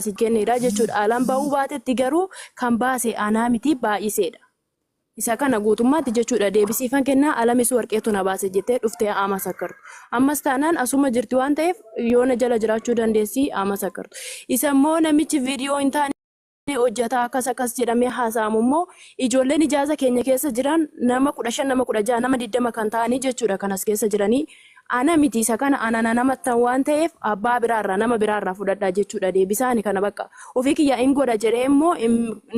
si kenneedha jechuudha. Alaan ba'uu baatetti garuu kan baase anaa miti baay'iseedha. Isa kana guutummaatti jechuudha deebisiifan kennaa alamis warqeetu na baase jettee dhuftee haa masakkartu. Ammas taanaan asuma jirti waan ta'eef yoo na jala jiraachuu dandeessi haa masakkartu. Isa immoo namichi viidiyoo hin taane ni hojjeta akkas akkas jedhamee haasa'amu immoo ijoolleen ijaasa keenya keessa jiran nama kudha shan nama kudha jaha nama digdama kan ta'anii jechuudha kan as keessa jiranii Ana miti isa kana ana na namattan waan ta'eef abbaa biraa irraa nama biraa irraa fudhadha jechuudha deebisaa ani kana bakka ofii kiyya in godha jedhee immoo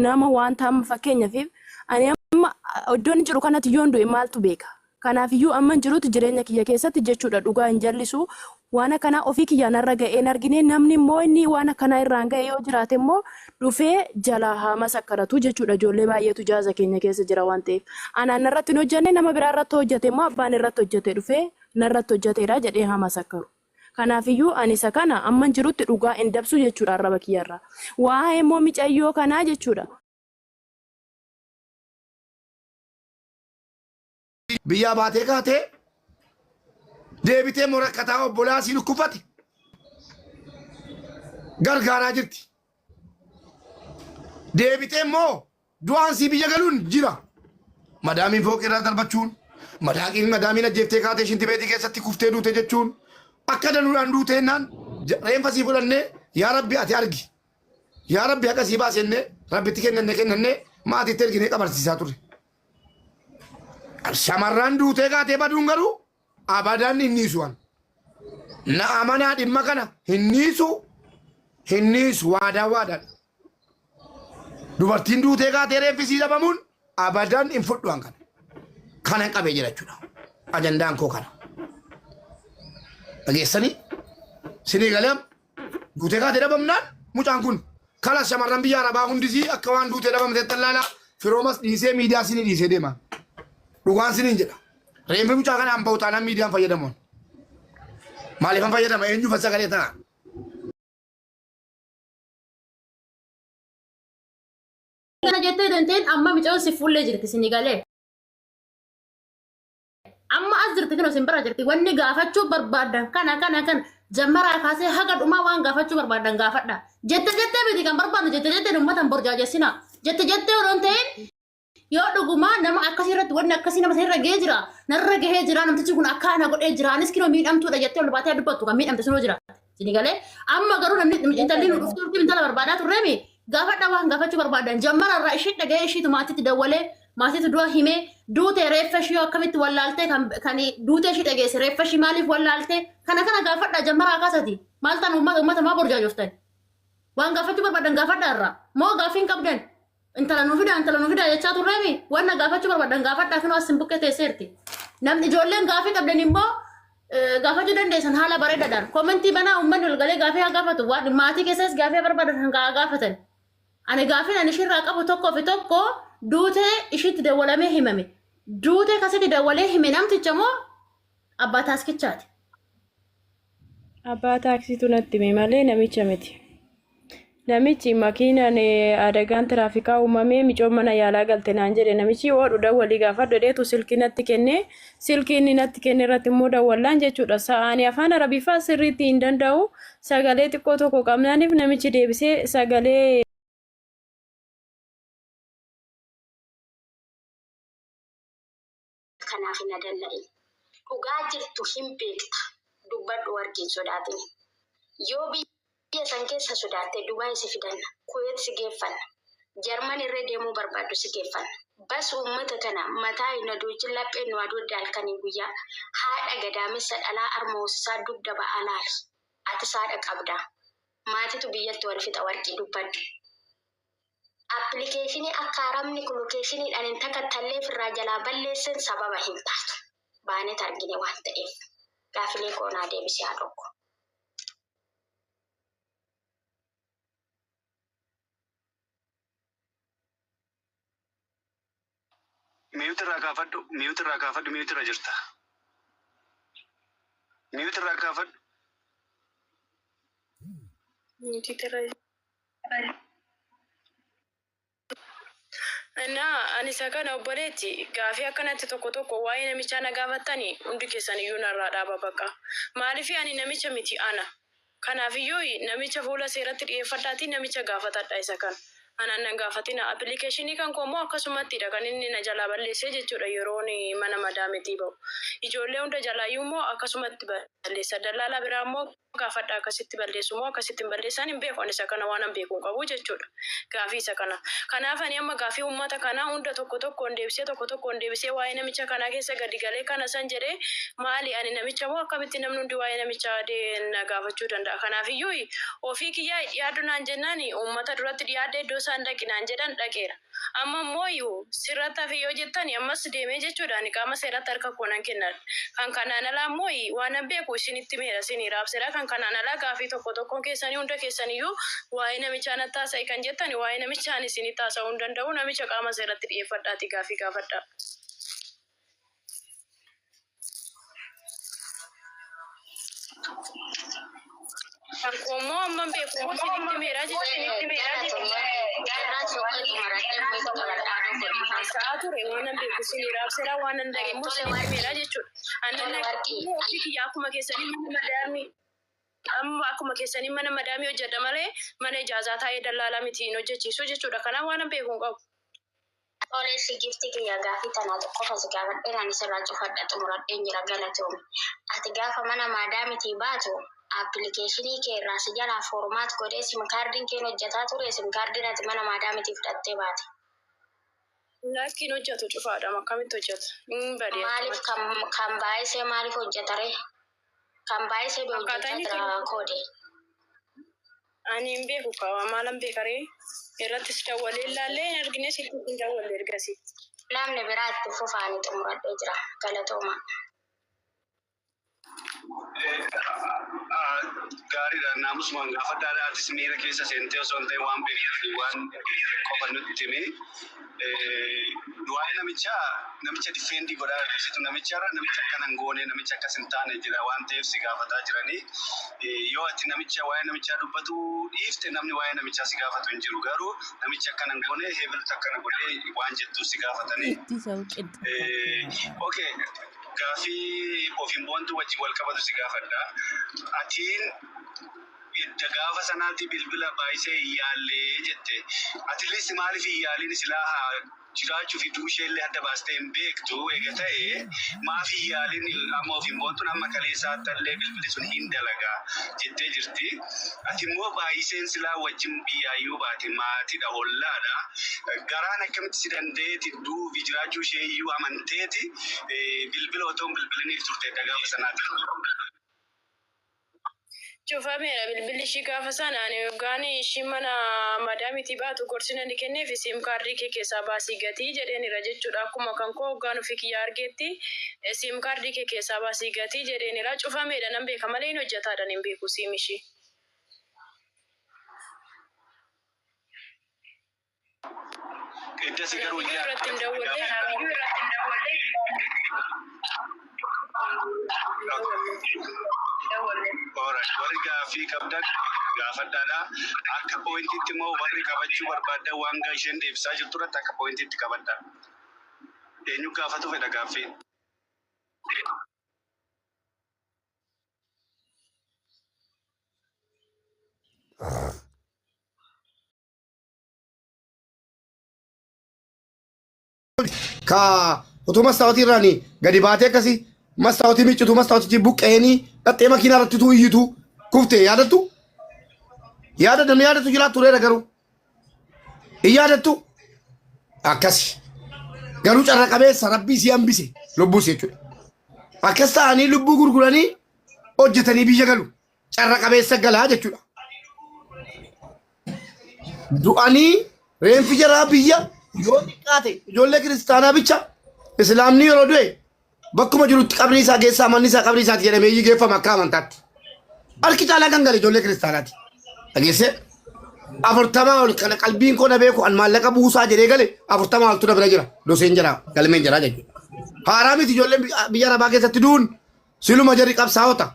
nama wanta amma fakkeenyafiif ani amma iddoon jiru kanatti yoon du'e maaltu beeka kanaaf iyyuu amman jirutti jireenya kiyya keessatti jechuudha dhugaa hin jallisu waan akkanaa ofii kiyyaa narra ga'ee hin argine namni immoo inni waan akkanaa irraan ga'e yoo jiraate immoo dhufee jalaa haa masakkaratu jechuudha ijoollee baay'eetu jaaza keenya keessa jira waan ta'eef anaan narratti hin hojjanne nama biraa irratti hojjate immoo abbaan irratti hojjate dhufee narratti hojjateedha jedhee haa masakkaru kanaafiyyuu ani isa kana amman jirutti dhugaa hin dabsu jechuudha arraba kiyyarraa waa'ee immoo micayyoo kanaa jechuudha biyyaa baatee kaatee deebitee immoo rakkataa obbolaa sii dhukkubfate gargaaraa jirti. Deebitee immoo du'aan sii biyya galuun jira. Madaamiin fooqii irraa darbachuun madaaqiin madaamiin ajjeeftee kaatee shintibeetii keessatti kuftee duute jechuun akka danuudhaan duute jennaan ja- reenfa sii fudhannee yaa rabbi ati argi. Yaa rabbi haqa sii baasennee rabbitti kennanne kennannee maatiitti erginee qabarsiisaa turre. Shamarraan duutee kaatee baduun garuu abadaan hin dhiisu an. Na amanaa dhimma kana hin dhiisu hin dhiisu waadaa waadaan. Dubartiin duutee kaatee reeffisii dhabamuun abadaan hin fudhu an kana. Kanan qabee jira jechuudha. Ajandaan koo kana. Dhageessanii? Sinii galam? Duutee kaatee dhabamnaan mucaan kun kalas shamarran biyya arabaa hundisii akka waan duutee dhabamteetti allaalaa firoomas dhiisee miidiyaa sinii dhiisee deema. Dhugaan siniin jedha. Reenfi mucaa kanaan bahu taanaan miidiyaan fayyadamoon. Maaliifan fayyadama eenyuufan sagalee ta'a? Kana jettee danteen amma micoon si fuullee jirti sini galee. Amma as jirti kino sin bira jirti wanni gaafachuu barbaadan kana kana kana jammaraa kaasee haga dhumaa waan gaafachuu barbaadan gaafadha. Jette jettee miti kan barbaadnu jette jettee ummatan borjaajessina. Jette jettee odoo hin ta'in yoo dhugumaa nama akkasii irratti wanni akkasii nama sanirra gahee jira narra gahee jira namtichi kun akkaana godhee jira anis kinoo miidhamtuudha jettee ol baatee dubbattu kan miidhamte sunoo jira. Sini galee amma garuu namni intalli nu dhuftu dhufti intala barbaadaa turreemi gaafadha waan gaafachuu barbaadan jammara irraa ishii dhaga'ee ishiitu maatitti dawwalee maatiitu du'a himee duute reeffa ishii akkamitti wallaaltee kan kan duute ishii dhageesse reeffa ishii maaliif wallaaltee kana kana gaafadha jammara akasati maal tan uummata uummata maa borjaajoftan waan gaafachuu barbaadan gaafadha irraa moo gaaffiin qabdan Intala nu fidaa intala nu fidaa jechaa turreemi wanna gaafachuu barbaadan gaafadhaa kunoo as sin bukkee teesseerti. Namni ijoolleen gaafii qabdan immoo eh, gaafachuu dandeessan haala bareedaadhaan. Komentii banaa uummanni ol galee gaafii haa gaafatu. Waan maatii keessas gaafii haa barbaadan kan haa gaafatan. Ani gaafiin ani ishirraa qabu tokkoo fi tokko duutee ishiitti dawwalamee himame. Duutee kasitti dawwalee hime namticha moo Abbaa taaskichaati. Abbaa taaksiitu natti hime malee namicha miti. Namichi makiinaan eh, adagaan tiraafikaa uumamee micoon mana yaalaa galte naan jedhe namichi oodhu dawwalii gaafadhu jedheetu silkii natti kenne. Silkii inni natti kenne irratti immoo dawwallaan jechuudha. Sa'aani afaan arabiffaa sirriitti hin danda'u. Sagalee xiqqoo tokko qabnaaniif namichi deebisee sagalee kanaaf hin adanna'in. Dhugaa jirtu hin beekta. Dubbadhu wargi hin sodaatin. Yoo biyya san keessa sodaatte Dubaay si fidanna. Kuweet si geeffanna. Jarman irree deemuu barbaaddu si geeffanna. Bas uummata tana mataa hin hadoochin lapheen nu hadoodde halkanii guyyaa. Haadha gadaamessa dhalaa arma hoosisaa dugda ba'aa laali. Atis haadha qabda. Maatitu biyyatti wal fixa wargi. Dubbadhu. Appilikeeshinii akka arabni kun lokeeshiniidhaan hin takattallee ofirraa jalaa balleessen sababa hin taatu. Baanet argine waan ta'eef. Gaafilee koo naa deebisi haadhoo koo. Miyuuti irraa kaafadhu, miyuuti irraa kaafadhu, miyuuti irra jirta. Miyuuti irraa kaafadhu. Miyuuti irra Innaa ani isa kana obboleetti gaafii akkanatti tokko tokko waa'ee namichaa na gaafattani hundi keessan iyyuu narraa dhaaba baqa. Maaliif ani namicha miti ana. Kanaafiyyuu namicha fuula seeratti dhiyeeffadhaatii namicha gaafatadha isa kan anaan nan gaafatinaa apilikeeshinii kan koo immoo akkasumattiidha kan inni na jalaa balleessee jechuudha yeroon mana madaametii ba'u ijoollee hunda jalaayyuu immoo akkasumatti balleessa dallaalaa biraa immoo gaafadha akkasitti balleessu moo akkasitti hin balleessaan hin beeku ani isa kana waanan beeku hin qabu jechuudha. gaafii isa kana. Kanaaf ani amma gaafii ummata kanaa hunda tokko tokkoon deebisee tokko tokkoon deebisee waa'ee namicha kanaa keessa gadi galee kana san jedhee maali ani namicha moo akkamitti namni hundi waa'ee namichaa de na gaafachuu danda'a kanaafiyyuu ofii kiyyaa hi dhiyaadhu naan jennaan ummata duratti dhiyaadhe iddoo isaan dhaqi naan jedhan dhaqeera amma immoo sirratti hafe yoo jettani ammas deemee jechuudha ani qaama seeratti harka koo nan kenna Kan kanaan alaa immoo waanan beeku isinitti himeera, isinii raabseera. Kan kanaan alaa gaaffii tokko tokkoon keessanii hunda keessan iyyuu waa'ee namichaa natti haasa'i kan jettan, waa'ee namichaa ani isinitti haasa'uu hin danda'u, namicha qaama seeratti dhi'eeffadhaatii gaaffii gaafadhaa. Rakkoo immoo amma hin beeku immoo isinitti meeraa jechuudha. Haasa'aa ture waan hin beeku isin raabseera waan hin dhageenye immoo isinitti meeraa jechuudha. Annan dhageenye ofii kiyya akkuma keessanii mana madaamii amma akkuma keessanii mana madaamii hojjedha malee mana ijaazaa taa'ee dallaalaa miti hin hojjechiisu jechuudha. Kanaaf waan hin beeku hin qabu. Tole eshi gifti kiyya gafi tana qofa si gafadhe nani sirra cufadha xumuradhen jira galatomi ati gafa mana madamiti batu aplikeshini kee irra si jala format godhe sim kardin kee hin hojjata ture sim kardin ati mana madamiti fudhatte bate Lakki hin hojjatu cufaadham akkamitti hojjata hin bade malif akkamatti kan kan baayisee malif hojjata re Kan baay'ee sebe hojjechaa jira koode. Ani hin beeku kawa maalan beekaree irrattis dawwalee ilaallee hin argine silkii hin dawwalle ergasi. Namni biraa itti fufa ani xumuradhee jira. Galatooma. Gaariidha naamusumaan gaafadhaadha atis miira keessa seentee osoo hin ta'in waan beektu waan qofa nutti himi. Waa'ee namichaa namicha difeendi godhaa jirtu namicha irra namicha akkana hin goone namicha akkas hin taane jira waan ta'eef si gaafataa jiranii yoo ati namicha waa'ee namichaa dubbatu dhiifte namni waa'ee namichaa si gaafatu hin jiru garuu namicha akkana hin goone heebilutu akkana godhee waan jettu si gaafatanii. Okay gaafii ofiin boontu wajjin wal qabatu si gaafadha atiin Edda gaafa sanaati bilbila baayisee hin yaalle jette. At least maaliif hin yaaliin silaa haa jiraachuu fi du'uu isheellee adda baastee hin beektu eega ta'e maaf hin yaaliin amma ofiin boontun amma kaleessaa tallee bilbili sun hin dalaga jettee jirti. Ati immoo baayiseen silaa wajjin biyyaa yoo baate maatidha ollaadha garaan akkamitti si dandeeti du'uu fi jiraachuu ishee iyyuu amanteeti bilbila otoo hin bilbiliniif turte edda gaafa sanaati. Cufameera bilbilli ishii gaafa sana ani yoggaan ishiin mana madaamiitii baatu gorsi nani kenneefi sim kaardii kee keessaa baasii gatii jedheenira jechuudha akkuma kan koo hoggaan ofii kiyyaa argeetti sim kaardii kee keessaa baasii gatii jedheenira cufameedha nan beeka malee hin hojjataadhan hin beeku siim ishii. Eddasi garuu Video yaa irratti hin dawwalle. Alright, warri gaaffii qabdan gaafadhaadha. Akka pooyintiitti immoo warri qabachuu barbaaddan waan gaa isheen deebisaa jirtu irratti akka pooyintiitti qabadha. Eenyu gaafatu fedha gaaffii? ka utuu mastaawotii irraan gadi baatee akkasii mastaawotii miccitu mastaawotichi buqqa'eenii dhaxxee makiinaa irratti utuu iyyitu kufte yaadattu yaada namni yaadattu jiraa tureera garuu hin yaadattu akkasi garuu carra qabeessa rabbii si hambise lubbuus jechuudha akkas ta'anii lubbuu gurguranii hojjetanii biyya galu carra qabeessa galaa jechuudha. Du'anii reenfi jaraa biyya yoo xiqqaate ijoollee kiristaanaa bicha islaamni yeroo du'e bakkuma jirutti qabrii isaa keessaa manni isaa qabrii isaati jedhamee geeffama akka amantaatti. Harki caalaa kan gale ijoollee kiristaanaati. Dhageessee afurtamaa ol kana qalbiin koo na beeku an maallaqa buusaa jedhee gale afurtamaa oltu na bira jira. Doseen jira galmeen jira jechuudha. Haaraa miti ijoolleen biyya arabaa keessatti du'uun Siluma jarri qabsaa'ota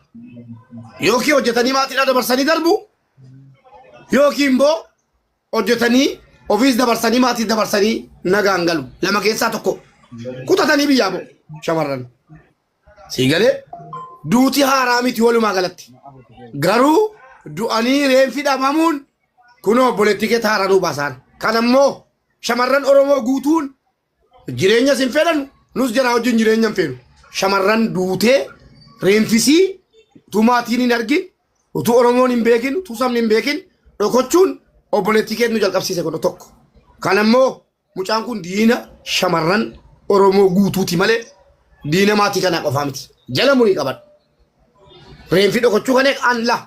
yookiin hojjetanii maatiidhaa dabarsanii darbu yookiin immoo hojjetanii ofiis dabarsanii maatiis dabarsanii nagaan galu. Lama keessaa tokko kutatanii biyyaa ba'u shamarran. Sii galee duuti haaraa miti walumaa galatti. Garuu du'anii reenfi dhabamuun kunoo obboleettii kee haaraa nuu baasaan. Kan ammoo shamarran Oromoo guutuun Jireenyas hin fedhan nus jaraa wajjin jireenya hin feenu. Shamarran duutee reenfisii utuu maatiin hin argin utuu Oromoon hin beekin utuu sabni hin beekin dhokochuun obboleettii keetu nu jalqabsiise kun tokko. Kan ammoo mucaan kun diina shamarran Oromoo guutuuti malee diina maatii kanaa qofaa miti. Jala murii qaban. Reenfi dhokochuu kan eegaan laa.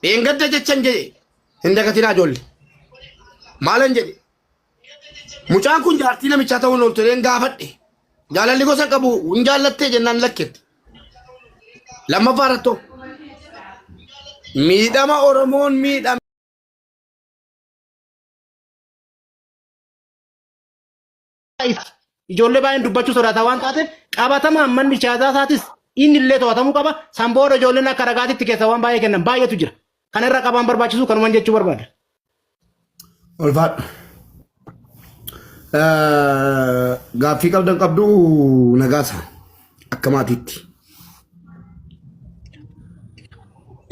Dheengadda jechan jedhe hin dagatinaa ijoollee. Maalan jedhe Mucaan kun jaartii namichaa ta'uun oltoleen gaafadhe. Jaalalli gosa qabu hin jaallattee jennaan lakketti. Lammaffaa irrattoo miidhama Oromoon miidhame. Ijoollee baay'een dubbachuu sodaata waan taateef qabatamaan manni siyaasaa isaatis inni illee to'atamuu qaba. San booda ijoolleen akka ragaatitti keessa waan baay'ee kennan baay'eetu jira. Kana irra qabaan barbaachisu kanuman jechuu barbaada. Ulfaadhu. Gaaffii qabdan qabdu nagaasa akka maatiitti.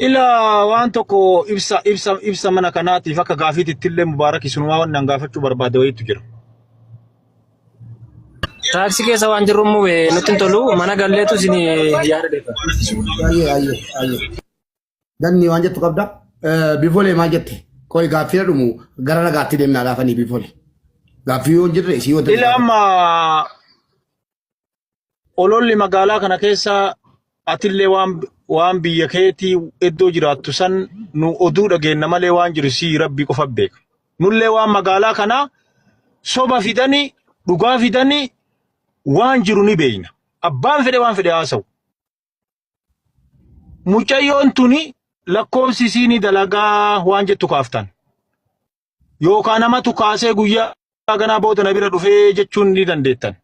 Ila waan tokko ibsa ibsa ibsa mana kanaatiif akka gaafiititti illee mubaarak isumaa waan nan gaafachuu barbaade wayiitu jira. Taaksii keessa waan jirru immoo nutti hin tolu mana galleetu isin yaada deefa. Ayyee ayyee ayyee. Danni waan jettu qabda. Bifolee maal jette? Qoy gaaffii dhumu gara nagaatti deemnaa laafanii bifolee. Gaaffii yoo hin jirre isii yoo Ila amma ololli magaalaa kana keessa atillee waan waan biyya keetii iddoo jiraattu san nu oduu dhageenna malee waan jiru sii rabbii qofa beeka. Nullee waan magaalaa kana soba fidanii dhugaa fidanii waan jiru ni beeyna. Abbaan fedhe waan fedhe haasa'u. Mucayyoon tuni lakkoofsi isii ni dalagaa waan jettu kaaftan. Yookaan namatu kaasee guyyaa ganaa booda na bira dhufee jechuun ni dandeettan.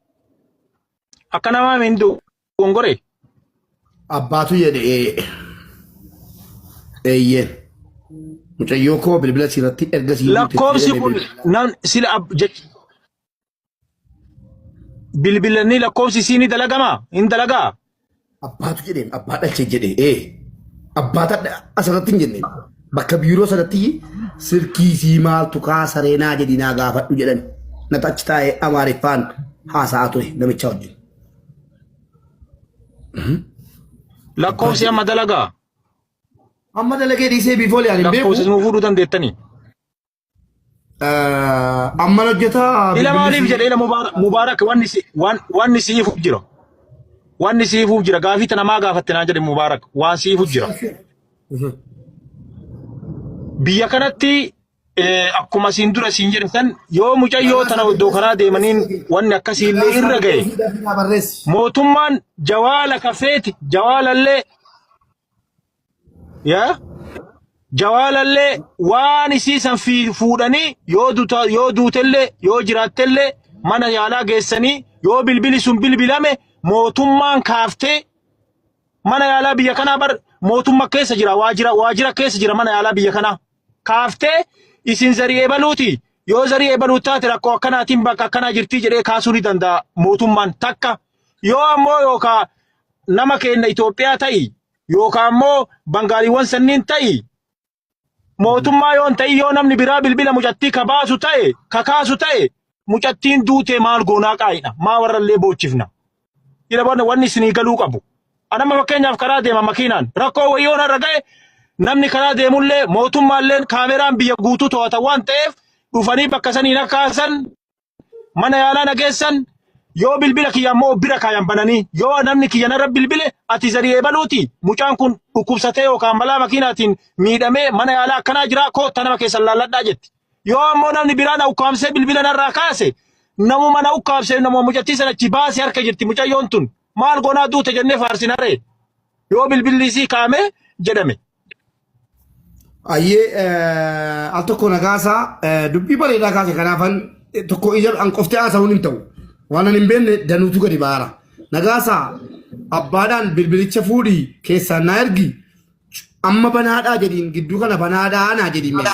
Akka namaa miin dogongore. Abbaatu jedhe ee. Eeyyeen. Mucayyoo koo bilbila siirratti erga sii Lakkoofsi kun nam sila ab jech Bilbilanii lakkoofsi isii ni dalagama? Hin dalagaa? Abbaatu jedheen abbaa dhalchee jedhee ee abbaa tadha asirratti hin jenne bakka biiroo sanatti silkii sii maaltu kaasaree naa jedhi naa gaafadhu jedhan nata achi taa'ee amaariffaan haasa'aa ture namicha wajjin. Lakkoofsi amma dalagaa? Amma dalagee dhiisee biifoo liyaan hin beeku. Lakkoofsi nu fuudhuu dandeettanii? Amman hojjetaa Ila maaliif jedhe ila Mubaarak Mubaarak wanni si waan wanni siifuuf jira. Wanni siifuuf jira gaafii tana maa gaafatte naan jedhe Mubaarak waan siifuuf jira. Biyya kanatti eh, akkuma siin dura siin jedhe san yoo mucayyoo tana iddoo kanaa deemaniin wanni akkasii illee irra ga'e. barreessi. mootummaan jawaala kafeeti jawaalallee yaa jawaalallee waan isii san fi- fuudhanii yoo duta yoo duutellee yoo jiraattellee mana yaalaa geessanii yoo bilbili sun bilbilame mootummaan kaaftee mana yaalaa biyya kanaa bar mootumma keessa jira waajira waajira keessa jira mana yaalaa biyya kanaa kaaftee isin zarii ebaluuti yoo zarii ebaluu taate rakkoo akkanaatiin bakka akkanaa jirtii jedhee kaasuu ni danda'a mootummaan takka yoo ammoo yookaa nama keenya Itoophiyaa ta'i yookaan immoo bangaaliiwwan sanniin ta'i mootummaa yoon ta'in yoo namni biraa bilbila mucattii ka baasu ta'e ka kaasu ta'e mucattiin duutee maal goonaa qaayidha maa warrallee boochifna ila barna wanni isinii galuu qabu anamma fakkeenyaaf karaa deema makiinaan rakkoo wayyoon irra ga'e namni karaa deemullee mootummaalleen kaameraan biyya guutuu to'ata waan ta'eef dhufanii bakka saniin akka haasan mana yaalaa na geessan yoo bilbila kiyya ammoo bira kaayan bananii yoo namni kiyya narra bilbile ati zarii eebaluuti mucaan kun dhukkubsatee yookaan balaa makiinaatiin miidhamee mana yaalaa akkanaa jiraa kootta nama keessan laalladhaa jetti. Yoo ammoo namni biraa na ukkaamsee bilbila narraa kaase namuma na ukkaamsee namuma mucattii sana achi baase harka jirti mucayyoon tun maal goonaa duute jennee faarsinaree yoo bilbilli isii kaamee jedhame. Ayyee eh, al tokko na kaasaa eh, dubbii bareedaa kaase kanaafan eh, tokko ija an qoftee haasa'uun hin ta'u. Waan an hin beekne danuutu gadi baara. Na kaasaa abbaadhaan bilbilicha fuudhii keessaan na ergi amma banaadhaa jedhiin gidduu kana banaadhaa naa jedhiin mee.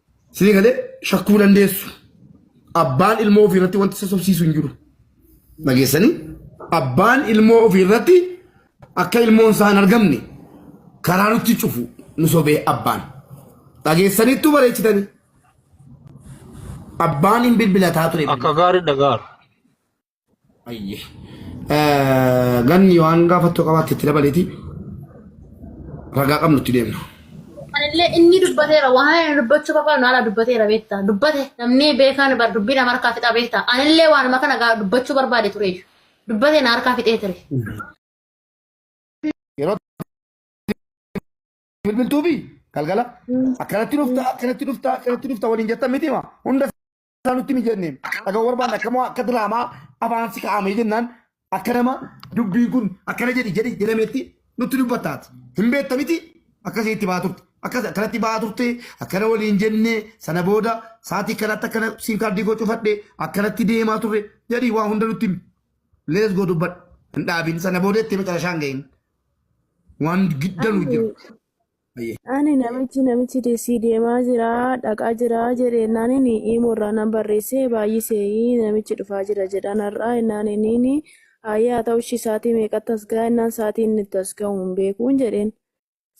Sini galee shakkuu dandeessu. Abbaan ilmoo ofii irratti wanti sassobsiisu hin jiru. Dhageessanii abbaan ilmoo ofii irratti akka ilmoon isaa hin argamne karaa nutti cufu nu sobee abbaan. Dhageessaniittuu bareechitanii. Abbaan hin bilbilataa ture. Akka gaarii dhagaara. Ayye. Ganni yoo waan gaafattu qabaatte itti dabaleeti ragaa qabnu itti deemna. Anillee inni dubbateera waan inni dubbachuu barbaadu haala dubbateera beekta. Dubbate namni beekaan bar dubbii nama harkaa fixaa beekta. Anillee waanuma kana gaa dubbachuu barbaade ture. Dubbate na harkaa fixee ture. Yeroo bilbiltuu fi galgala akkanatti dhufta akkanatti dhufta akkanatti dhufta waliin jettan miti ma hunda isaa nutti ni jenne dhaga'uu barbaanne akka moo akka diraamaa afaan si kaa'amee jennaan akka nama dubbiin kun akkana jedhi jedhi jedhametti nutti dubbattaati. Hin beekta miti akkasii itti ba'aa turte. Akkas akkanatti ba'aa turte akkana waliin jenne sana booda sa'aatii kanatti akkana siin kaardii koo cufadhe akkanatti deemaa turre jedhi waa hunda nutti himi. Lees goo dubbadhu hin dhaabin sana booda itti meqalashaan gahin. Waan giddanuu jiru. Hayyee. Ani namichi namichi desii deemaa jira dhaqaa jira jedhe ennaan inni imoo irraa nan barreesse baay'ise namichi dhufaa jira jedhaan har'aa ennaan inni haayee haa ta'u ishii saatii meeqatti as ga'a ennaan saatii inni itti as ga'u hin beekuun jedheen.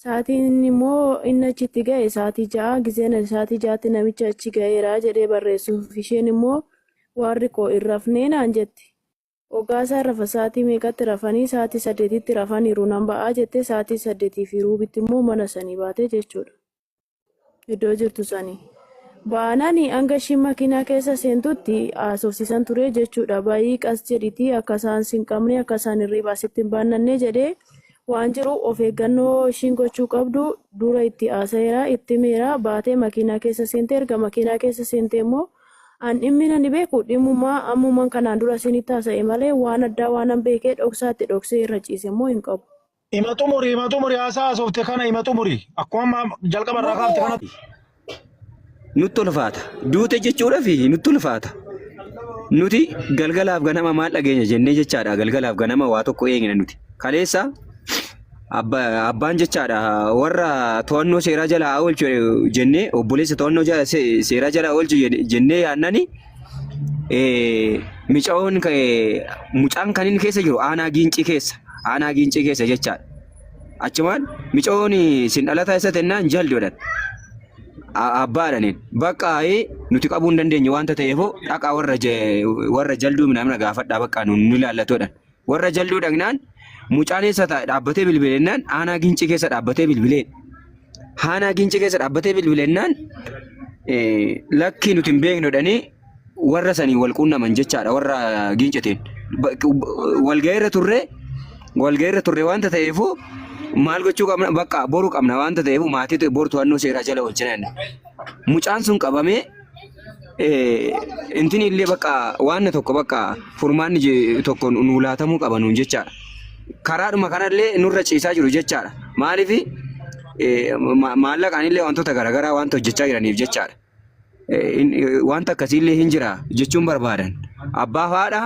Saatiin inni immoo inni achi itti ga'e saatii ja'a gizeen ani saatii ja'atti namicha achi ga'eera jedhee barreessuuf isheen immoo waarri koo hin rafnee naan jette. Ogaa isaan rafan sa'aatii meeqatti rafanii sa'aatii saddeetitti rafaniiru nan ba'aa jettee sa'aatii saddeetii fi ruubitti immoo mana sanii baate jechuudha. Iddoo jirtu sanii. Baanani hanga ishiin makiinaa keessa seentutti haasofsiisan ture jechuudha. Bayii qas jedhitii akka isaan sin qabne akka isaan hirriibaa sitti hin baannanne jedhee waan jiru of eeggannoo ishiin gochuu qabdu dura itti haasa'eera itti himeera baatee makiinaa keessa seentee erga makiinaa keessa seentee immoo An dhimmina hin beeku, dhimmuma ammuman kanaan dura isinitti haasa'e malee waan addaa waanan beekee dhoksaatti dhoksee irra ciise immoo hin qabu. Ima xumuri ima xumuri haasaa haasofte kana ima xumuri akkuma amma jalqaba irraa kaafte kanatti. Nutti ulfaata. Duute jechuudhaaf nutti ulfaata. Nuti galgalaaf ganama maal dhageenya jennee jechaadha. Galgalaaf ganama waa tokko eegna nuti. Kaleessa abbaan jechaadha warra to'annoo seeraa jala haa oolchu jennee obboleessa to'annoo seeraa jala oolchu jennee yaannani micaoon mucaan kan inni keessa jiru aanaa giincii keessa aanaa giincii keessa jechaadha. Achumaan micaoon sin dhalataa isa tennaan jaldoodhan abbaadhanin bakka nuti qabuu hin dandeenye wanta ta'eefoo dhaqaa warra jalduu minamina gaafadhaa bakka nu ilaallatoodhan. Warra jalduu dhagnaan mucaan eessa taa'e dhaabbatee bilbilennaan aanaa gincii keessa dhaabbatee bilbilee. Aanaa gincii keessa dhaabbatee bilbilennaan eh, lakkii nuti hin beeknu jedhanii warra sanii wal quunnaman jechaadha warra gincitiin. Ba- ba- Walga'iirra turre walga'iirra turre waanta ta'eefuu maal gochuu qabna bakka boru qabna waanta ta'eefuu maatii boru to'annoo seeraa jala oolchina jenna. Mucaan sun qabamee intini illee bakka waan tokko bakka furmaanni tokko nu laatamuu qaba nuun jechaadha. Karaadhuma kanallee nurra ciisaa jiru jechaadha. Maaliif maallaqaan illee wantoota garaagaraa wanta hojjechaa jiraniif jechaadha. Wanta akkasiillee hin jira jechuun barbaadan. Abbaa faadha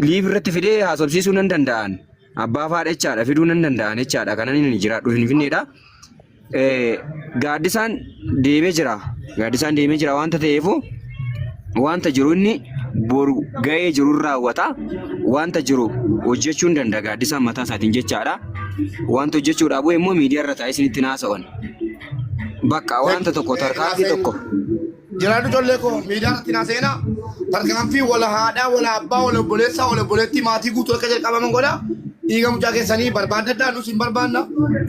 liif irratti fidee haasofsiisuu nan danda'an. Abbaa faadha jechaadha fiduu nan danda'an jechaadha. Kanan hin jiraadhu hin finneedha. eh, gaaddisaan deemee jira. Gaaddisaan deemee jira waanta ta'eefu waanta jiru inni boru ga'ee jiru irraa raawwata. Waanta jiru hojjechuu hin danda'a gaaddisaan mataa isaatiin jechaadha. Waanta hojjechuudhaaf bu'e immoo miidiyaa irra taa'ee isinitti hin haasa'an. Bakka waanta tokko tarkaanfii tokko Jiraadhu ijoollee koo miidiyaa irratti naa seenaa tarkaanfii wala haadhaa wala abbaa wala obboleessaa wala obboleettii maatii guutuu akka jalqabaman godha dhiiga mucaa keessanii barbaadadhaa nus hin barbaanna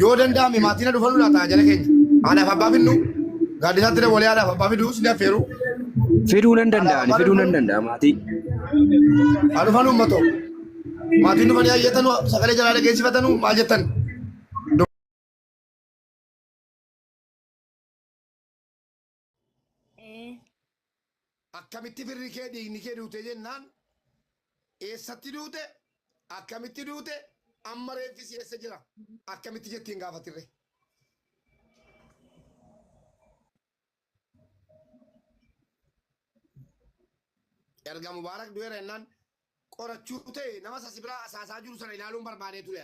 yoo danda'ame maatii na dhufanuu laata jala keenya haadhaaf abbaa finnu gaaddisaatti dabalee haadhaaf abbaa fiduu sin affeeru Fiduu nan danda'ani, fiduu nan danda'a maatii. haa dhufan uummatoo maatiin dhufanii hayyatanu sagalee jalaa dhageessifatanu maal jettan Ee. Akkamitti firri kee dhiigni kee duute jennaan eessatti duute akkamitti duute amma reeffi si eessa jira akkamitti jettiin gaafatirre. Erga Mubaarak du'eera jennaan qorachuu ta'e nama sasi biraa asaasaa jiru sana ilaaluun barbaadee ture.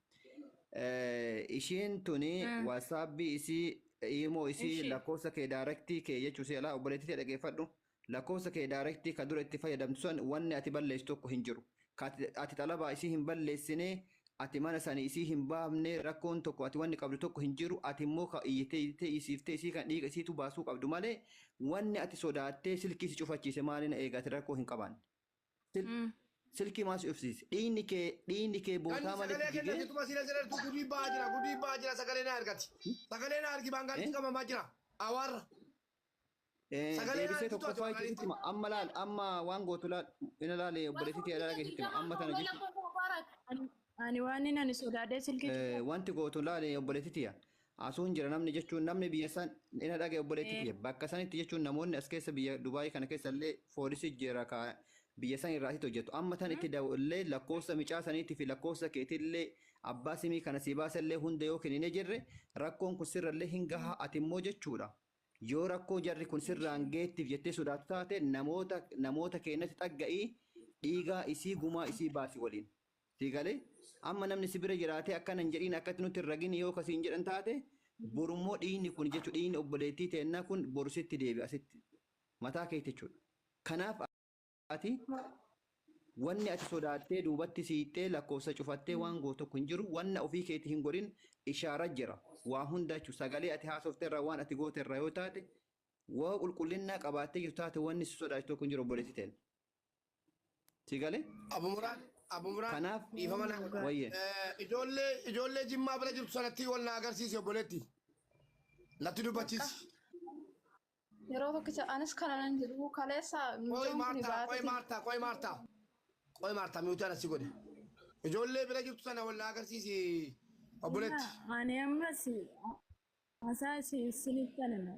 Eh, ishiin tuni Mm. wasaabbii isii imoo isii Ishii. lakkoofsa kee daarektii kee jechuu si alaa obboleettii tee dhageeffadhu lakkoofsa kee daarektii ka dura itti fayyadamtu san wanni ati balleessu tokko hin jiru Ka ati, ati xalabaa isii hin balleessine ati mana sani isii hin baafne rakkoon tokko ati wanni qabdu tokko hin jiru ati immoo ka iyyitee iyyitee isiiftee isii kan dhiiga isiitu baasuu qabdu malee wanni ati sodaattee silkii si cufachiise maaliin eegaati rakkoo hin qabaanne Sil- Mm. Silkii maasii ofsiisi. Dhiigni kee dhiigni kee Kan bootaa malee sagalee kenna jigee. jettuma siila jedhartu gudii ba'aa jira gudii ba'aa jira sagalee na argati. Sagalee na argi baangaalitti Eh? qabamaa jira. Awaarra. Eh, Sagalee deebisee naannoo tokkoffaa tokko jechuutti hima. Amma laal amma waan gootu laal ina laale obboleessi kee laala geessitti hima. Amma tana jechuudha. Ani- Ani waan inni ani sodaadhee silkii Eh, wanti gootu laale obboleessi tiya. Asuun jira namni jechuun namni biyya san ina dhagaye obboleetti Ee. tiyya bakka sanitti jechuun namoonni as keessa biyya Dubaayii kana keessa illee foolisi jira ka biyya san irraa asitti hojjetu amma tan itti da'u illee lakkoofsa micaa saniitii fi lakkoofsa keetii illee abbaa simii kana sii baasa illee hunda yoo kenine jirre rakkoon kun sirra illee hin gahaa ati immoo jechuudha yoo rakkoo jarri kun sirraan Inshallah. geettiif jettee sodaatu taate namoota namoota keenyatti dhagga'ii dhiigaa isii gumaa isii baasi waliin Sii galee? Amma namni si bira jiraatee akkana hin jedhiin akkatti nutti hin ragini yoo ka siin jedhan taate boru immoo dhiiyni kun jechu dhiiyni obboleettii teennaa kun boru sitti deebi'a sitti mataa keetti jechuudha. Kanaaf ati wanni ati sodaattee duubatti siiqxee lakkoofsa cufattee waan gootu tokko hin jiru wanna ofii keetti hin godhin ishaara jira waa hunda jechuudha sagalee ati haasofte irraa waan ati goote irraa yoo taate woo qulqullinnaa qabaattee jirtu taate wanni si sodaachisu tokko hin jiru obboleettii teenna. Si galee? Abu Muraan, Abu Muraan Kanaaf dhiifama naa godha. wayye. Eh, Ijoollee ijoollee Jimmaa bira jirtu sanatti wal na agarsiisi obboleetti. Natti dubbachiisi. Yeroo tokkicha anis kana nan jiru kaleessa Qoy mucaan kun Maartaa, qoy baatee Maartaa, qoy Maartaa. Qoy Maartaa miutaan asii godhe. Ijoollee bira jirtu sana wal na agarsiisi obboleetti. Ani ammas hasaa isin isinitti anima.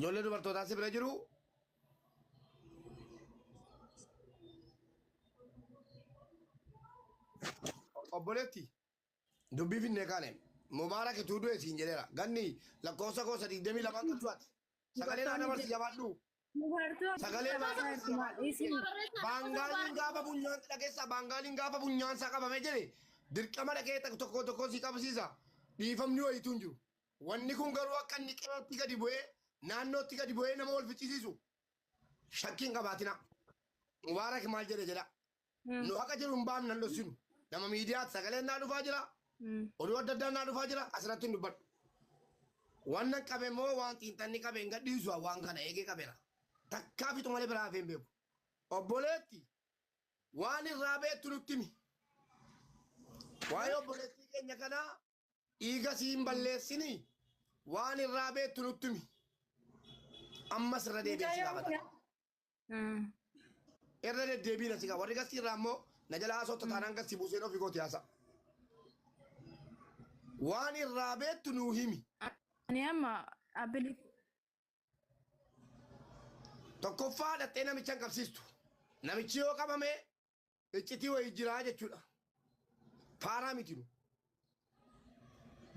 Ijoollee dubartootaa si bira jiru. Obboleetti dubbii finnee kaane mubaarak ituu du'e siin jedheera ganni lakkoofsa koo sadiigdamii lamaan kan du'ate sagalee naa dabarsi jabaadhu Dubartoota Sagalee Dubartoota baasaan isin lafaa Dubartoota isin Dubartoota Barreessaa Baangaaliin Dubartoota gaafa Dubartoota funyaan dhageessaa baangaaliin gaafa funyaan isaa qabame jedhe dirqama dhaqee takka tokko tokko si qabsiisa dhiifamni wayiitu hin jiru. Wanni kun garuu akka inni qe'eetti gadi bu'ee naannootti gadi bu'ee nama wal ficcisiisu shakkiin qabaatina. Mubaarak maal jedhe jedha nu haqa jiru hin baafnu nan dhossinu nama miidiyaatti sagaleen naa dhufaa jira oduu adda addaa naa dhufaa jira asirratti hin dubbadhu waan nan qabe moo waan xiinxanni qabe hin gadhiisu waan kana eegee qabeera takkaa fixu malee biraa hafee hin beeku obboleetti waan irraa beektu nutti himi waa'ee obboleettii keenya kanaa dhiiga sii hin balleessini waan irraa beektu nutti himi ammas irra deebi'ee si gaafata. Irra deddeebiin asii kaa warri gastii irraa immoo na jala haasofta taanaan gastii buuseen ofii kooti haasa. Waan irraa beektu nuu himi. Ani amma abilif Tokkoffaa dhaxxee namicha hin qabsiistu. Namichi yoo qabame iccitii wayii jiraa jechuudha. Faaraa miti nu.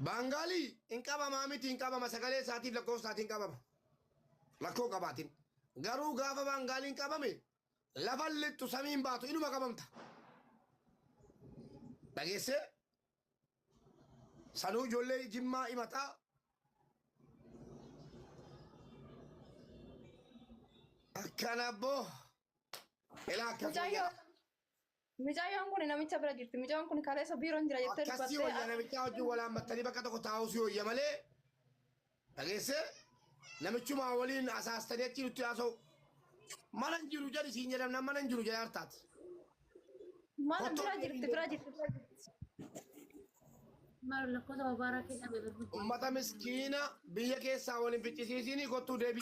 Baangaalii hin qabamaa miti hin qabama sagalee isaatiif lakkoofsa isaatiin qabama. Lakkoo qabaatiin. Garuu gaafa baangaaliin qabame lafa lixxu samiin baatu inuma qabamta. Dhageessee sanuu ijoollee jimmaa himataa akkana abboo. Elaa akkasuma Mucayyoo. jedha. Mucayyoon kun namicha bira jirti. Mucayyoon kun kaleessa biiroon jira jettee Akkasii wayya dubbattee. namichaa wajjin wal hammattanii bakka tokko taa'uu si wayya malee dhageessee namichumaa waliin asaastanii achi nutti haasa'u. Mana hin jiru jedhi siin jedhamna mana hin jiru jedha hartaati. Mana bira jirti bira jirti. bira jirti. Maal lakkoofsa babaaraa keessa bebe. Ummata miskiina biyya keessaa waliin ficcisiisiinii kottuu deebi.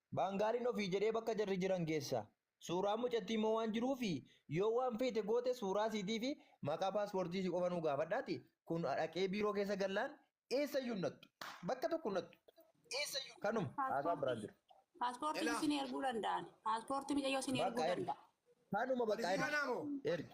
Baangaaliin ofii jedhee bakka jarri jiran geessa. Suuraan mucattii immoo waan jiruufi yoo waan feete goote suuraa siitii fi maqaa paaspoortii isii qofa nuu gaafadhaati kun dhaqee biiroo keessa gallaan eessayyuu hin nattu. Bakka tokko hin nattu. Kanuma haasaan biraan Paaspoortii. jiru. Paaspoortiin Elaa. isin erguu danda'an. Paaspoortii micayyoo isin erguu Bakka ergi. danda'a. Kanuma bakka Polisii ergi. kanaa moo? Ergi.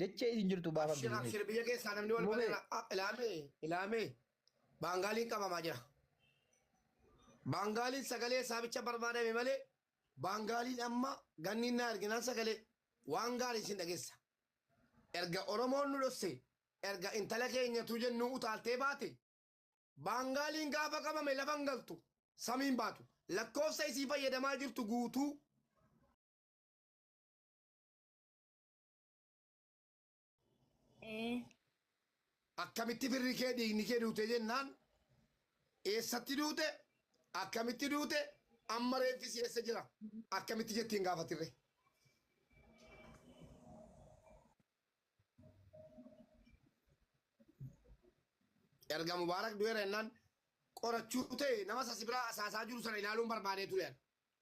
Dachee isin jirtu Abshir baafamti. abshir biyya keessaa namni wal Mubee. barreera. Ah, Ilaamee ilaamee baangaaliin qabamaa jira. Baangaaliin sagalee isaa bicha barbaadame malee baangaaliin amma ganniin naa erginaan sagalee waan gaarii isin dhageessa. Erga Oromoon nu dhosse erga intala keenyatu jennuu utaaltee baate baangaaliin gaafa qabame lafa hin galtu samiin baatu lakkoofsa isii fayyadamaa jirtu guutuu Ee. Akkamitti firri kee dhiigni kee duute jennaan eessatti duute akkamitti duute amma reeffi si eessa jira akkamitti jetti hin gaafatirre. Erga Mubaarak du'eera jennaan qorachuu ta'e nama sasi biraa asaasaa jiru sana ilaaluun barbaadee ture.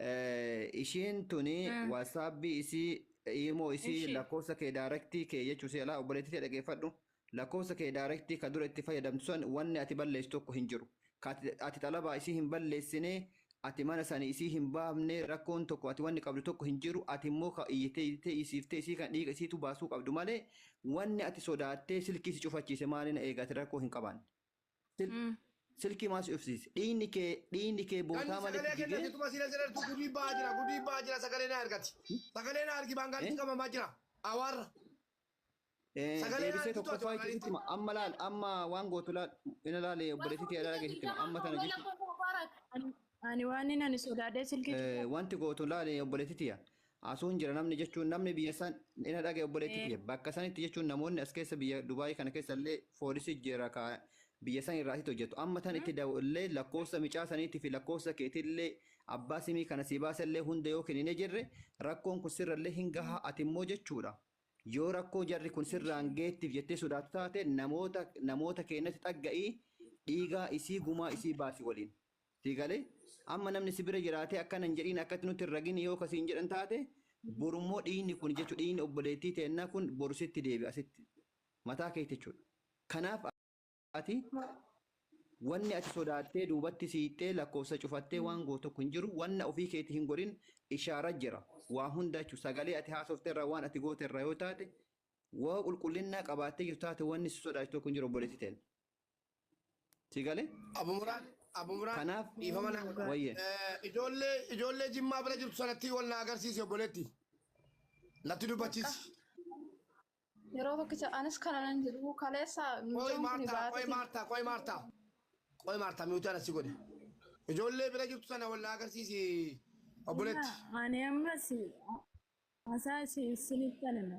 Eh, ishiin tuni Mm. wasaabbii isii iimoo isii Ishii. lakkoofsa kee daarektii kee jechuu si alaa obboleettii tee dhageeffadhu lakkoofsa kee daarektii ka dura itti fayyadamtu san wanni ati balleessu tokko hin jiru Ka ati- ati xalabaa isii hin balleessine ati mana sani isii hin baafne rakkoon tokko ati wanni qabdu tokko hin jiru ati immoo ka iyyitee iyyitee isiiftee isii kan dhiiga isiitu baasuu qabdu malee wanni ati sodaattee silkii si cufachiise maaliin eegaati rakkoo hin qabaanne Sil- Mm. Silkii maa si ofsiise? Dhiigni kee dhiigni kee Ganni bootaa malee sagalee kenna jigee jetuma sila jedhartu gudii ba'aa jira gudii ba'aa jira sagalee na argati. Sagalee na argi baangaalitti Eh? qabamaa jira. Awaarra. Eh, Sagalee deebisee argitu ati tokkoffaa Waaqayyotti. itti hima. Amma laal, amma waan gootu laal, ina laale obboleessi kee laala keessatti hima. Amma tana jechuudha. Ani waanin ani sodaadhee silkii Eh, cufa. wanti gootu laali obboleetti tiyya. Asuun jira namni jechuun namni biyya san ina dhaga'e obboleetti Eh. tiyya. Bakka sanitti jechuun namoonni as keessa biyya Dubaayii kana keessa illee foolisii jira ka biyya san irraa asitti hojjetu. Amma tan itti da'u illee lakkoofsa micaa saniitii fi lakkoofsa keetii illee abbaa simii kana sii baasa illee hunda yoo kenninee jirre rakkoon kun sirra illee hin gaha ati immoo jechuudha. Yoo rakkoo jarri kun sirraan geettiif jettee sodaatu taate namoota namoota keenyatti dhagga'ii dhiigaa isii gumaa isii baasi waliin. Sii galee? Amma namni si bira jiraatee akkana hin jedhiin akkatti nutti hin ragini yoo ka siin jedhan taate borummoo dhiiyni kun jechu dhiiyni obboleettii teennaa kun boru sitti deebi'a sitti mataa keetti jechuudha. Kanaaf ati wanni ati sodaattee duubatti siiqxee lakkoofsa cufattee waan gootu tokko hin jiru wanna ofii keetii hin godhin ishaara jira waa hunda jechuudha sagalee ati haasofte irraa waan ati goote irraa yoo taate woo qulqullinnaa qabaattee jirtu taate wanni si sodaachisu tokko hin jiru obboleettii teenna. Si galee? Abu Muraan, Abu Muraan Kanaaf dhiifama naa godha. wayye. Eh, Ijoollee ijoollee Jimmaa bira jirtu sanatti wal na agarsiisi obboleetti. Natti dubbachiisi. Yeroo tokkicha anis kana nan jedhu kaleessa Qoy mucaan kun Maartaa, qoy baatee Maartaa, qoy Maartaa. Qoy Maartaa miutaan asii godhe. Ijoollee bira jirtu sana wal na agarsiisi obboleetti. Ani ammas hasaa isin isinitti anana.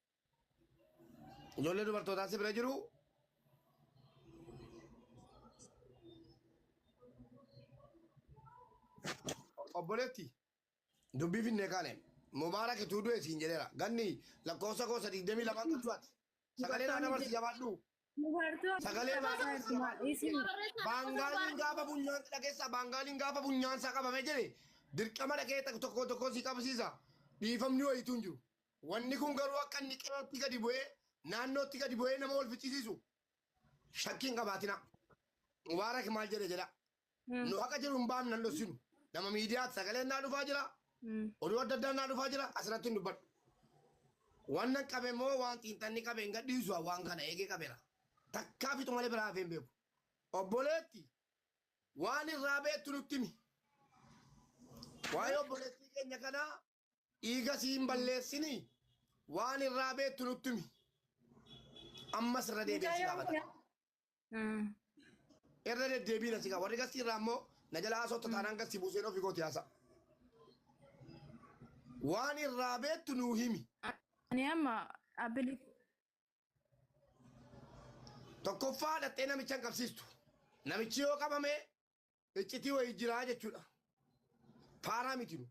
Ijoollee dubartootaa si bira jiru. Obboleetti dubbii finnee kaane mubaarak ituu du'e siin jedheera ganni lakkoofsa koosa digdamii lamaan galchuwaati sagalee naa dabarsi jabaadhu Dubartoota Sagalee Sagalee baasaa baasaa ergumaa ergumaa isin Isin barreessaa Baangaaliin gaafa funyaan dhageessa baangaaliin gaafa funyaan isaa qabame jedhe dirqama dhagee tokko tokko tokko si qabsiisa dhiifamni wayiitu hin jiru. Wanni kun garuu akka inni qe'eetti gadi bu'ee naannootti gadi bu'ee nama wal ficcisiisu shakkiin qabaatina. Mubaarak maal jedhe jedha Mm. nu haqa jiru hin baanu nan dhossinu nama miidiyaatti sagaleen naa dhufaa jira Mm. oduu adda addaa naa dhufaa jira asirratti hin dubbadhu waan nan qabe moo waan xiinxanni qabe hin gadhiisu waan kana eegee qabeera takkaa fixu malee biraa hafee hin beeku obboleetti waan irraa beektu nutti himi waa'ee obboleettii keenya kanaa dhiiga sii hin balleessini waan irraa beektu nutti himi ammas irra deebi'ee si Mucayyoon gaafata. kun Irra deddeebiin asii kaa warri gastii irraa immoo na jala haasofta taanaan gastii buuseen ofii kooti haasa. Waan irraa beektu nuu himi. Ani amma abilif Tokkoffaa dhaxxee namicha hin qabsiistu. Namichi yoo qabame Iccitii wayii jiraa jechuudha. Faaraa miti nu.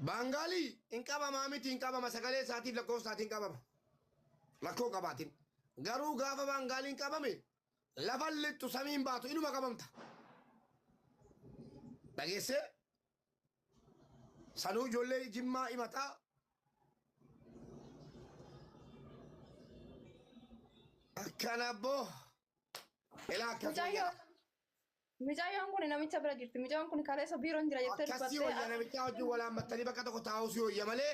Baangaalii hin qabamaa miti hin qabama sagalee isaatiif lakkoofsa isaatiin qabama. Lakkoo qabaatiin. Garuu gaafa baangaaliin qabame lafan lixxu samiin baatu inuma qabamta. Dhageessee Sanuu ijoollee jimmaa himataa akkana abboo ilaa akkas Mucayyoo. wayyaa Mucayyoon kun namicha bira jirti. Mucayyoon kun kaleessa biiroon jira jettee akkasii wayyaa namichaa wajjin walaammattanii bakka tokko taa'uu si wayya malee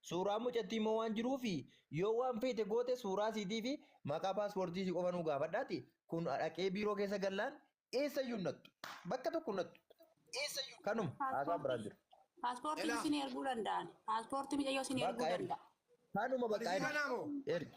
Suuraa mucattii immoo waan jiruufi yoo waan feete goote suuraa siitii fi maqaa paaspoortii isii qofa nuu gaafadhaati kun dhaqee biiroo keessa gallaan eessayyuu hin nattu. Bakka tokko hin nattu. Kanuma haasaan biraan Paaspoortii. jiru. Paaspoortii Elaa. isin erguu danda'an. Paaspoortii micayyoo isin erguu Bakka ergi. danda'a. Kanuma bakka Polisii ergi. kanaa moo? Ergi.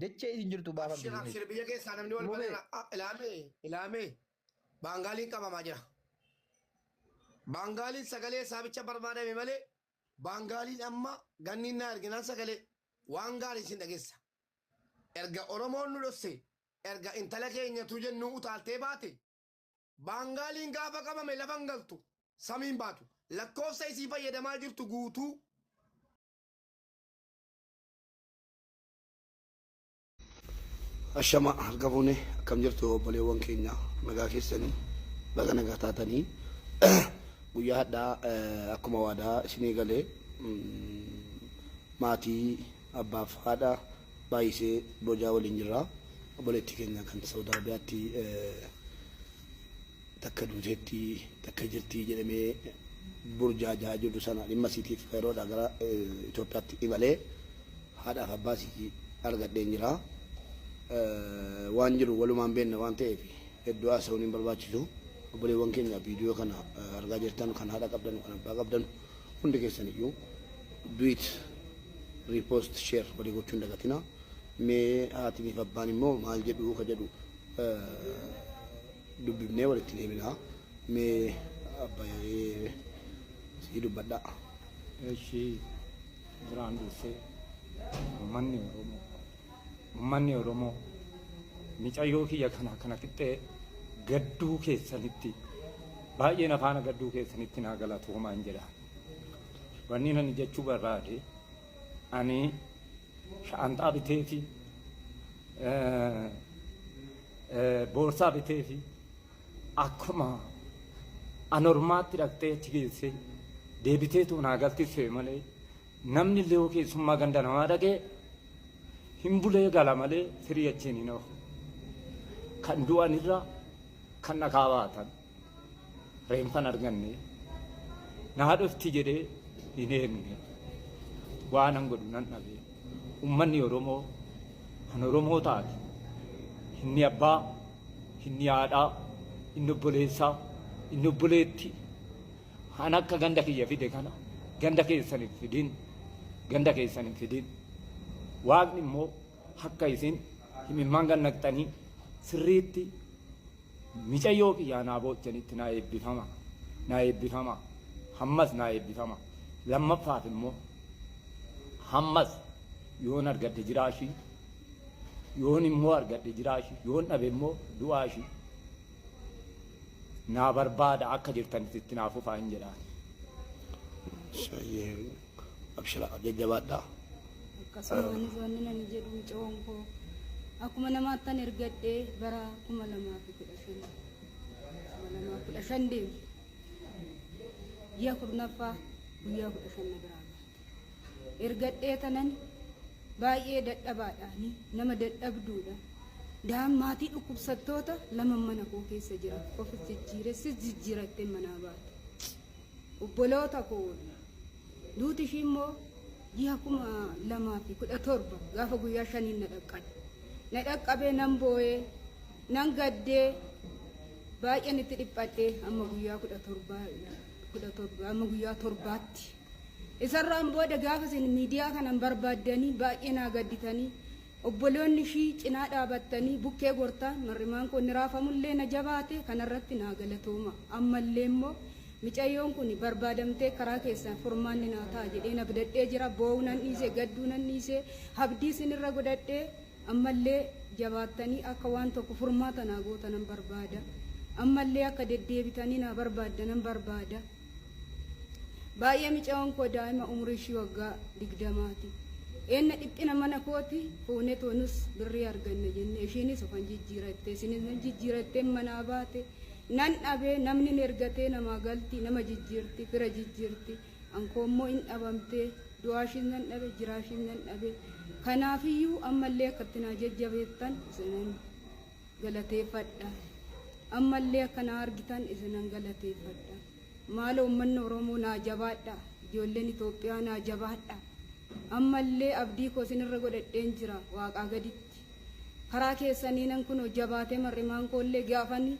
Dachee isin jirtu baaf Abshir abdii. abshir biyya keessaa namni wal Mubee. barana ilaamee ilaamee baangaaliin qabamaa jira. Baangaaliin sagalee isaa bicha barbaadame malee baangaaliin amma ganniin naa erginaan sagalee waan gaarii isin dhageessa. Erga Oromoon nu dhosse erga intala keenyatu jennuu utaaltee baate baangaaliin gaafa qabame lafa hin galtu samiin baatu lakkoofsa isii fayyadamaa jirtu guutuu Ashama harka fuune akkam jirtu obboleewwan keenya nagaa keessanii baga nagaa taatanii guyyaa hadhaa akkuma waadaa isinii galee maatii abbaaf haadha baay'isee bojaa waliin jirra obboleettii keenya kan Saawud Arabiyaatti takka duuteetti takka jirti jedhamee burjaaja'aa jirtu sana dhimma isiitiif yeroodhaa gara Itoophiyaatti imalee haadhaaf abbaa isii argadheen jira. Waan jiru walumaan beenna waan ta'eef hedduu haasa'uun hin barbaachisu. Obboleewwan keenya viidiyoo kana argaa jirtan kan haadha qabdanu kan abbaa qabdanu hundi keessan iyyuu duit riipoost sheer walii gochuu hin dagatina. Mee haatiniif abbaan immoo maal jedhu ka jedhu dubbifnee walitti deebina mee abba yaree sii dubbadha Eshi duraan dursee ummanni Oromoo ummanni Oromoo micayyoo kiyya kana kana fixxee gadduu keessanitti baay'ee nafaana gadduu keessanitti naa galatoomaan jedha. Wanni ani jechuu barbaade ani shaanxaa biteefi boorsaa biteefi akkuma anormaatti dhaqxee achi geessee deebiteetu naa galtisse malee namni illee yoo keessummaa ganda namaa dhaqee hin bulee gala malee firii achiin hin oofu. Kan du'anirra kan dhakaa baatan. Reenfan arganne naa dhufti jedhee hin eegne waanan godhu nan dhabe ummanni Oromoo kan Oromoo taate inni abbaa inni haadhaa inni obboleessaa inni obboleetti kan akka ganda kiyya fide kana ganda keessan hin fidin ganda keessan hin fidin waaqni immoo akka isin himimmaan gannaqxanii sirriitti Micayyoo kiyyaa naa boochanitti naa eebbifama naa eebbifama hammas naa eebbifama lammaffaaf immoo hammas yoon argadhe jiraa ishii yoon immoo argadhe jiraa ishii yoon dhabe immoo du'aa ishii naa barbaada akka jirtanitti itti naa fufaa hin jedhaan. Shayyee. Abshira jajjabaadha. Akkasumaanis wanni nani jedhu micoon koo akkuma namaattan ergadhe bara kuma lamaa fi kudha shan kuma lamaa kudha shan deemu ji'a kurnaffaa guyyaa kudha shan na biraa baate. Ergadhee tanan baay'ee dadhabaadhaani nama dadhabduudha. Daan maatii dhukkubsattoota lama mana koo keessa jira. Ofis jijjiiressis jijjiirattee manaa baate. Obboloota ko, duuti ishii immoo jiha 2017 gaafa guyyaa shaniin na dhaqqabe. Na dhaqqabee nan boo'ee, nan gaddee, baay'een itti dhiphadhee amma guyyaa 17 17 amma guyyaa torbaatti. Isarraan booda gaafa isin miidiyaa kanan barbaaddanii baay'ee naa gadditanii Obboloonni ishii cinaa dhaabattanii bukkee gortaan mar'imaan koo inni raafamu illee na jabaate kana irratti naa galatooma. Amma illee immoo micayyoon kuni barbaadamtee karaa keessan furmaanni naa ta'a jedheen abdadhee jira. Boo'uu nan dhiise, gadduu nan dhiise, abdii isin irra godhadhe. Amma illee jabaattanii akka waan tokko furmaata naa gootanan barbaada. Amma illee akka deddeebitanii naa barbaaddanan barbaada. Baay'ee micayoon koo daa'ima umurii ishii waggaa digdamaati. Eenna dhiphina mana kooti fuunetoo nus birrii arganna jennee ishiinis ofan jijjiirattee isinis nan jijjiiratteen manaa baate nan dhabee namni hin ergatee namaa galti nama jijjiirti fira jijjiirti ankoo immoo hin dhabamtee du'aa ishiis nan dhabe jiraa ishiis nan dhabe kanaafiyyuu ammallee akkatti naa jajjabeettan isinan galateeffadha. Ammallee akka na argitan isinan galateeffadha. Maalo ummanni Oromoo naa jabaadha. Ijoolleen Itoophiyaa naa jabaadha. Ammallee abdii koo isinirra godhadheen jira waaqaa gaditti. Karaa keessaniinan kunoo jabaatee mar'imaan koollee gaafani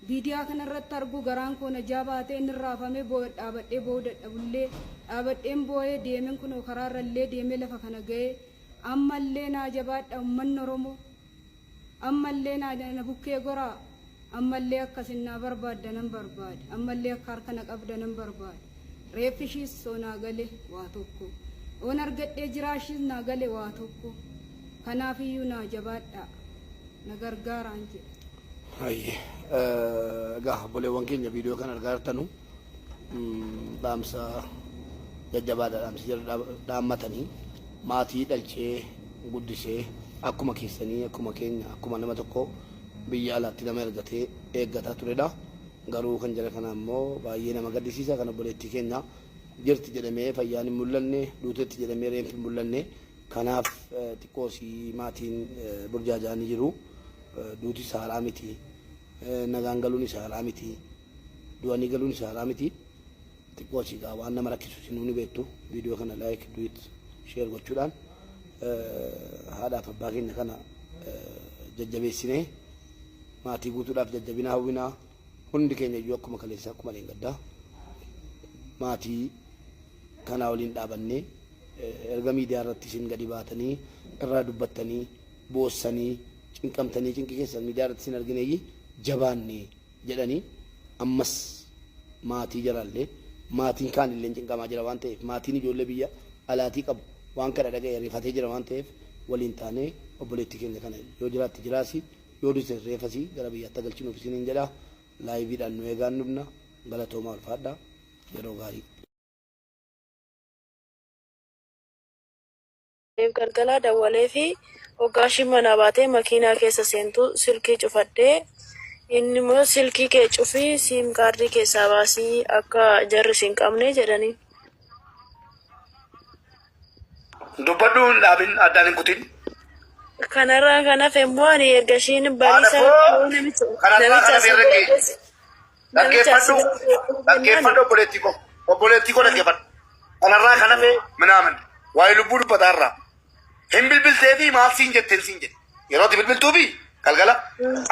viidiyaa kanarratti argu garaan koo na jaabaatee inni raafamee boo'e dhaabadhee boo'uu dadhabullee dhaabadheen boo'ee deemen kunoo karaarrallee deemee lafa kana ga'ee ammallee naa jabaadha ummanni Oromoo. Ammallee na bukkee goraa? Ammallee akka isin na barbaadda nan barbaade. Ammallee akka harka na qabda nan barbaade. Reeffi ishiis soo naa gale waa tokko. Oon argadhee jiraa ishiis naa gale waa tokko. Kanaaf iyyuu naa jabaadhaa. Na gargaaraan jedhe. Hayyee. Egaa obboleewwan keenya viidiyoo kana argaa jirtanu dhaamsa jajjabaadha dhaamsi jala dhaammatanii maatii dhalchee guddisee akkuma keessanii akkuma keenya akkuma nama tokko biyya alaatti nama ergatee eeggataa turedha. Garuu kan jara kana ammoo baay'ee nama gaddisiisa kan obboleettii keenya jirti jedhamee fayyaan hin mul'anne duutetti jedhamee reenfi hin mul'anne kanaaf xiqqoosii maatiin burjaajaa ni jiru duuti isaa haraa miti nagaan galuun isaa haraa miti du'anii galuun isaa haraa miti. Xiqqoo si gaa waan nama rakkisu sinuu ni beektu video kana like do it share gochuudhaan haadhaaf abbaa keenya kana jajjabeessinee maatii guutuudhaaf jajjabina hawwinaa hundi keenya iyyuu akkuma kaleessaa akkuma leengaddaa maatii kanaa waliin dhaabannee erga miidiyaa irratti isin gadi baatanii irraa dubbattanii boossanii cinqamtanii cinqi keessan miidiyaa irratti isin argineeyyii jabaannee jedhanii ammas maatii jaraallee maatiin kaanilleen cinqamaa jira waan ta'eef maatiin ijoollee biyya alaatii qabu waan kana dhaga'e rifatee jira waan ta'eef waliin taanee obboleettii keenya kana yoo jiraatte jiraasi yoo duutes reefasi gara biyyaatti haa galchinuuf isiniin jedha laayiviidhaan nu eegaan dhufna galatoomaa ulfaadhaa yeroo gaarii. Aniif galgala dawwaleefi hoggaa ishiin manaa baatee makiinaa keessa seentu silkii cufadhe. Innimmoo silkii kee cufii siim kaardii keessaa baasii akka jarri sin qabne jedhaniin. Dubbadhu hin dhaabin addaan hin kutin. Kanarraan kan hafe immoo ani erga ishiin Haadha bariisaa koo yoo namicha kanarraa namicha kana asii beerra ga'e. godhate Dhaggeeffadhu, dhaggeeffadhu obboleettii koo, obboleettii koo dhaggeeffadhu. Kanarraa kan hafe minaamin waa'ee lubbuu dubbataa irraa hin bilbiltee fi maal siin jetteen siin jedhe. Yeroo itti bilbiltuu fi galgala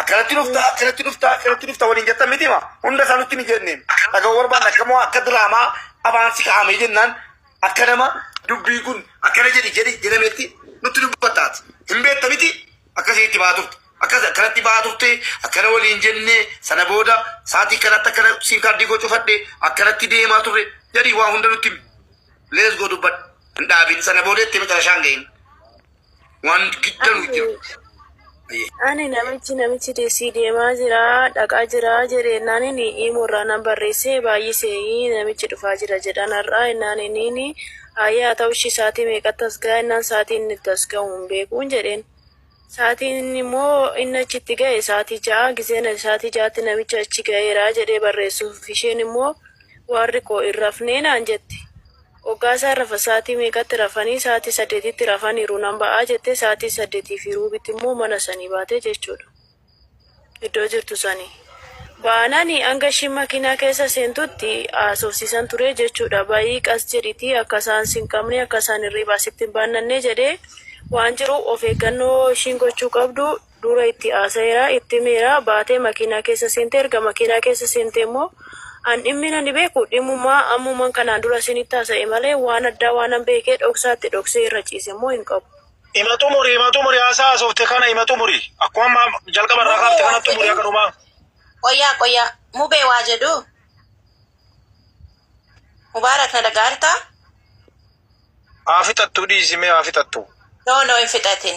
akkanatti dhufta, akkanatti dhufta, akkanatti dhufta waliin jettan miti ma hunda isaa nutti ni jenneen. Dhaga'uu barbaanna akka moo akka diraamaa afaan si kaa'amee jennaan akka nama dubbii kun akkana jedhi jedhi jedhametti nutti dubbattaati. Hin beekta miti Akkasii itti ba'aa turte. Akkas akkanatti ba'aa turte akkana waliin jenne sana booda sa'aatii kanatti akkana siim kaardii koo cufadhe akkanatti deemaa turre jedhii waa hunda nutti himi. Lees goo dubbadha. Hin dhaabin sana booda itti macarashaan gahin. Waan gidda nuyi jiru. Ani namichi namichi deessii deemaa jira dhaqaa jira jedhe naan inni imoo irraa nan barreessee baay'isee namichi dhufaa jira jedhan har'aa naan inni Haayee haa ta'u ishii sa'aatii meeqatti as ga'a jennaan sa'aatii inni itti as ga'u hin beekuun jedheen. Sa'aatiin inni immoo inni achi itti ga'e sa'aatii ja'a gizeen ani sa'aatii ja'atti namicha achi ga'eera jedhee barreessuuf isheen immoo waarri koo hin rafnee naan jette. Oggaa isaan rafan sa'aatii meeqatti rafanii sa'aatii saddeetitti rafaniiru nan ba'aa jettee sa'aatii saddeetii fi ruubitti immoo mana sanii baate jechuudha. iddoo jirtu sani baanani hanga ishiin makiinaa keessa seentutti haasofsiisan ture jechuudha. Ba'ii qas jedhitii akka isaan sin qabne akka isaan hirriibaa sitti hin baannanne jedhee waan jiru of eeggannoo ishiin gochuu qabdu dura itti haasa'eera itti himeera baatee makiinaa keessa seente erga makiinaa keessa seentee immoo an dhimmi nani beeku dhimmuma ammuman kanaan dura isinitti haasa'e malee waan addaa waanan beekee dhoksaatti dhoksee irra ciise immoo hin qabu. Ima xumuri, ima xumuri haasaa haasofte kana ima xumuri. Akkuma amma jalqaba irraa kaafte kana xumuri akka dhumaa. Qoyyaa qoyyaa mubee waa jedhu mubaarak na dhagaarta Haa fixattuu dhiisimee haa fixattuu. no no hin fixatin